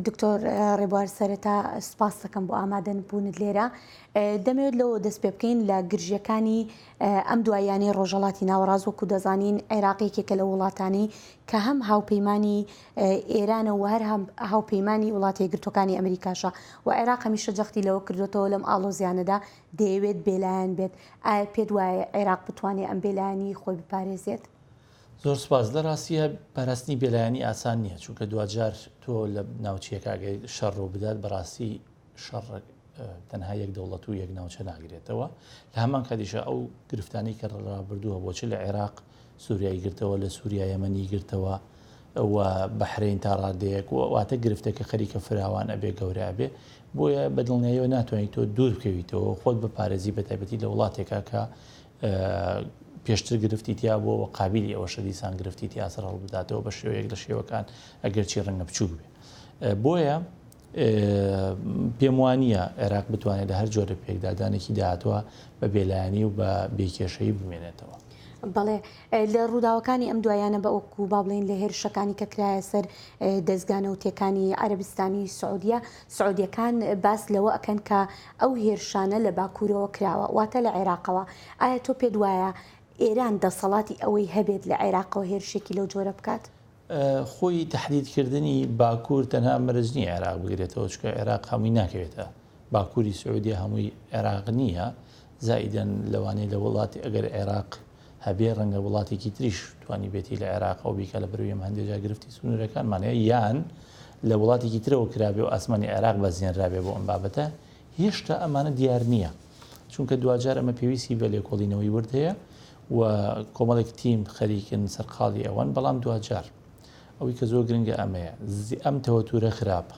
دکتۆر ڕێبوار سەرەتا سپاس دەکەم بۆ ئامادەن بوونت لێرە دەمەوێت لەوە دەست پێ بکەین لە گرژیەکانی ئەم دوایانەی ڕۆژەڵاتی ناوەڕاز وەکو دەزانین عێراقیکێکە لە وڵاتانی کە هەم هاوپەیمانانی ئێرانە و هەر هاوپەیمانانی وڵاتی گرتوەکانی ئەمریکاشە و عێراق هەمیشە جەختی لەوە کردوێتەوە لەم ئاڵۆزیانەدا دەیەوێت بێلایەن بێت ئایا پێت وایە عێراق بتوانێت ئەم بێلایانی خۆی بپارێزێت؟ زۆر سوپاس لە ڕاستیە پاراستنی بێلایەنی ئاسان نییە چونکە دواجار تۆ لە ناوچیەکگەی شەڕ ڕوو بدات بەڕاستی شەڕ تەنها یەک دەوڵەت و یەک ناوچە ناگرێتەوە لە هەمان کاتیشە ئەو گرفتانی کە ڕابردووە بۆچ لە عێراق سووریایی گرتەوە لە سووریا یەمەنی گرتەوە و بەحرین تا ڕادەیەک و واتە گرفتەکە خەریکە فراوان ئەبێ گەورە ئەبێ بۆیە بەدڵنیایەوە ناتوانیت تۆ دوور بکەویتەوە خۆت بە پارێزی بە تایبەتی لە وڵاتێکە کە پێشتر گرفتی تیابووە و قابیلی ئەوەشە دیسان گرفتی تیا سەر هەڵبداتەوە بە شێوەیەک لە شێوەکان ئەگەرچی ڕەنگە بچووک بێ بۆیە پێم وانە عێراق بتوانێت لە هەر جۆرە پێکدادانێکی داهاتوە بە بێلایانی و بە بێکێشەی بمێنێتەوە. بەڵێ لە ڕووداوەکانی ئەم دوایانە بە ئۆک و با بڵێن لە هێرشەکانی کە کرایە سەر دەستگانە و تێکانی عەربستانی سعودیە سعودیەکان باس لەوە ئەکەن کە ئەو هێرشانە لە باکوورەوە کراوە، واتە لە عێراقەوە، ئایا تۆ پێت وایە ئێران دەسەڵاتی ئەوەی هەبێت لە عێراقەوە هێرشێکی لەو جۆرە بکات؟ خۆی تەحدید کردنی باکوور تەنها مەرج نییە عێراق بگرێتەوە، چونکە عێراق هەمووی ناکەوێتە باکووری سعودیە هەمووی عێراق نییە، زائیدەن لەوانەیە لە وڵاتی ئەگەر عێراق هەبێ ڕەنگە وڵاتێکی تریش توانیبێتی لە عێراق ئەو بیکا لە بەروی ئێمە هەندێ جا گرفتی سنوورەکانمان هەیە یان لە وڵاتێکی ترەوە کرابێ و ئاسمانی عێراق بەزێنرابێ بۆ ئەم بابەتە هێشتا ئەمانە دیار نییە چونکە دواجار ئەمە پێویستی بە لێکۆڵینەوەی ورد هەیە و کۆمەڵێک تیم خەریکن سەرقاڵی ئەوەن بەڵام دواجار ئەوەی کە زۆر گرنگە ئەمەیە ئەم تەوەتورە خراپە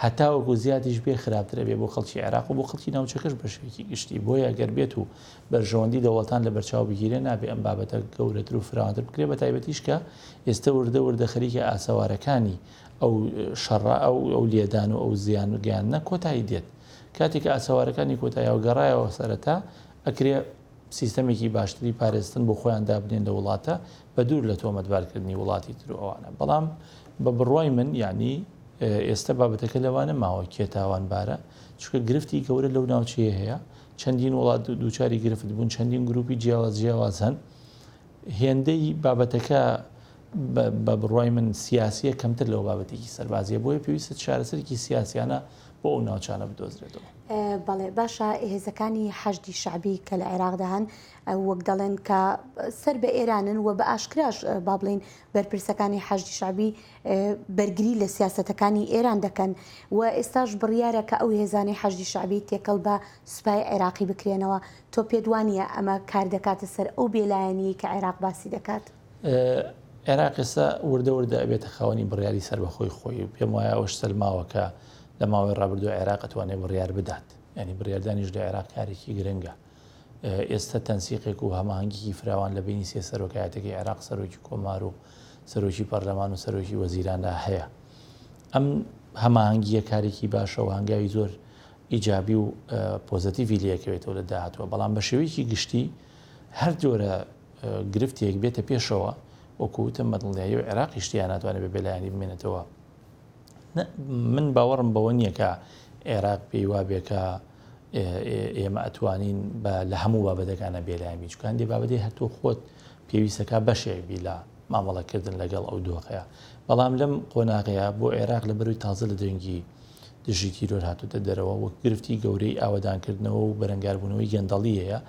هەتاوەکو زیادیش بێ خراپتر ئەبێ بۆ خەڵکی عێراق و بۆ خەڵکی ناوچەکەش بە شوێکی گشتی بۆیە گەر بێت و بەرژەوەندی دەوڵەتان لە بەرچاو بگیرێ نابێ ئەم بابەتە گەورەتر و فراوانتر بکرێ بە تایبەتیش کە ئێستە وردە وردە خەریکە ئاسەوارەکانی ئەو شەڕە ئەو ئەو لێدان و ئەو زیان و گەیانە کۆتایی دێت کاتێک ئاسەوارەکانی کۆتاییەوە گەڕایەوە سەرەتا ئەکرێ سیستەمێکی باشتری پارێزتن بۆ خۆیان دابنێن لە وڵاتە بەدوور لە تۆمەتبارکردنی وڵاتی تر و ئەوانە، بەڵام بە بڕوای من یانی ئێستە بابەتەکە لەوانە ماوە کێ تاوانبارە، چونکە گرفتی گەورە لەو ناوچەیە هەیە، چەندین وڵات دووچاری گرفت بوون، چەندین گروپی جیاواز جیاواز هەن، هێندەی بابەتەکە بە بڕوای من سیاسیە کەمتر لەو بابەتێکی سەربازیە بۆیە پێویستە چارەسەرکی سیاسیانە بۆ ئەو ناوچانە بدۆزرێتەوە بەڵێ باشە هێزەکانی حەشدی شعبی کە لە عێراقدا هەن وەک دەڵێن کە سەر بە ئێرانن و بە ئاشکراش با بڵێین بەرپرسەکانی حەشدی شعبی بەرگری لە سیاسەتەکانی ئێران دەکەن و ئێستاش بڕیارە کە ئەو هێزانەی حەشدی شعبی تێکەڵ بە سوپای عێراقی بکرێنەوە تۆ پێدوانە ئەمە کار دەکاتە سەر ئەو بێلایەنی کە عێراق باسی دەکات. عێراق ئێستا وردە وردە ئەبێتە خاوەنی بڕیاری سربەخۆی خۆی و پێم وایە ئەوش سەلماوەکە لە ماوەی ڕابردوو عێراق ئەتوانێت بڕیار بدات ینی بڕاردانیش لە عێراق کارێکی گرنگە ئێستا تەنسیقێک و هەماهەنگیی فراوان لە بەینی سێ سەرۆکایەتیەکەی عێراق، سەرۆکی کۆمار و سەرۆکی پەرلەمان و سەرۆکی وەزیراندا هەیە. ئەم هەماهەنگییە کارێکی باشە و هەنگاوی زۆر ئیجابی و پۆزەتیڤی لێکەوێتەوە لە داهاتوە، بەڵام بە شێوەیەکی گشتی هەر جۆرە گرفتێک بێتە پێشەوە، وەکو وتم بە دڵنیایی و عێراقیش تێیا ناتوانێت بە بێلایەنی بمێنێتەوە. من باوەڕم بەوە نییە کە عێراق پێی وابێ کە ئێمە ئەتوانین بە لە هەموو بابەتەکانە بێلایەن بین چونکە هەندێک بابەتێ هەر تۆ خۆت پێویست دەکات بەشێک بی لە مامەڵەکردن لەگەڵ ئەو دۆخەیە بەڵام لەم قۆناغەیە بۆ عێراق لە بەروی تازە لە دەنگی دژی تیرۆر هاتوتە دەرەوە وەک گرفتی گەورەی ئاوەدانکردنەوە و بەرەنگاربوونەوەی گەندەڵیەیە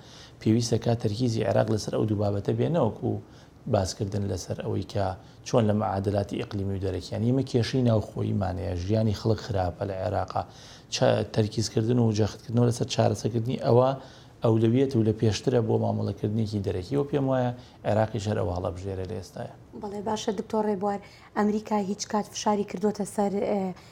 پێویستە کا تەرکیزی عێراق لەسەر ئەو دوو بابەتە بێنەوەکو باسکردن لەسەر ئەوەی کە چۆن لە معادلاتی ئیقلیمی و دەرەکییان، ئیمە کێشەی ناوخۆییمان هەیە، ژیانی خەڵک خراپە لە عێراقا، چا تەرکیزکردن و جەختکردنەوە لەسەر چارەسەکردنی ئەوە ئەولەویەت و لە پێشترە بۆ مامەڵەکردنێکی دەرەکی و پێم وایە عێراقیش هەر ئەو هەڵەبژێرە لە ئێستایا. بەڵێ باشە دکتۆر ڕێبوار، ئەمریکا هیچ کات فشاری کردووەتە سەر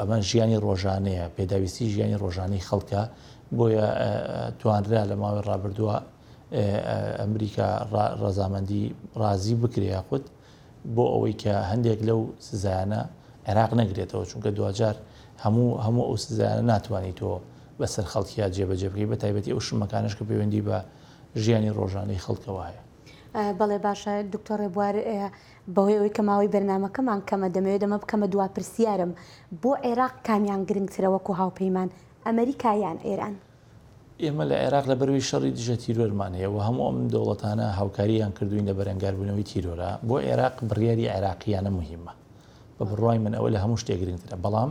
ئەمە ژیانی ڕۆژانەیە، پێداویستی ژیانی ڕۆژانەی خەڵکە، بۆیە توانرا لە ماوەی ڕابردووە ئەمریکا ڕەزامەندی ڕازی بکرێ یاخود بۆ ئەوەی کە هەندێک لەو سزایانە عێراق نەگرێتەوە چونکە دوجار هەموو هەموو ئەو سزایانە ناتوانانی تۆ بەسەر خەڵکییا جێبەجێ بکەی بە تایبەتی ئەو شمەکانش کە پەیوەندی بە ژیانی ڕۆژانەی خەڵکەوە هەیە. بەڵێ باشە دکتۆر ڕێبوار بەهۆی ئەوەی کە ماوەی بەرنامەکەمان کەمە دەمەوێت ئەمە بکەمە دوا پرسیارم، بۆ عێراق کامیان گرنگترە وەکو هاوپەیمان، ئەمەریکا یان ئێران؟ ئێمە لە عێراق لەبەروی شەڕی دژە تیرۆرمان هەیە و هەموو ئەم دەوڵەتانە هاوکارییان کردووین لە بەرەنگاربوونەوەی تیرۆرە، بۆ عێراق بڕیاری عێراقییانە موهیمە، بە بڕوای من ئەوە لە هەموو شتێک گرنگترە، بەڵام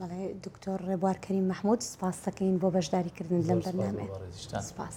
بەڵێ دکتۆر ڕێبوار کەریم مەحمود سپاس دەکەین بۆ بەشداریکردن لەم بەرنامەیە سپاس.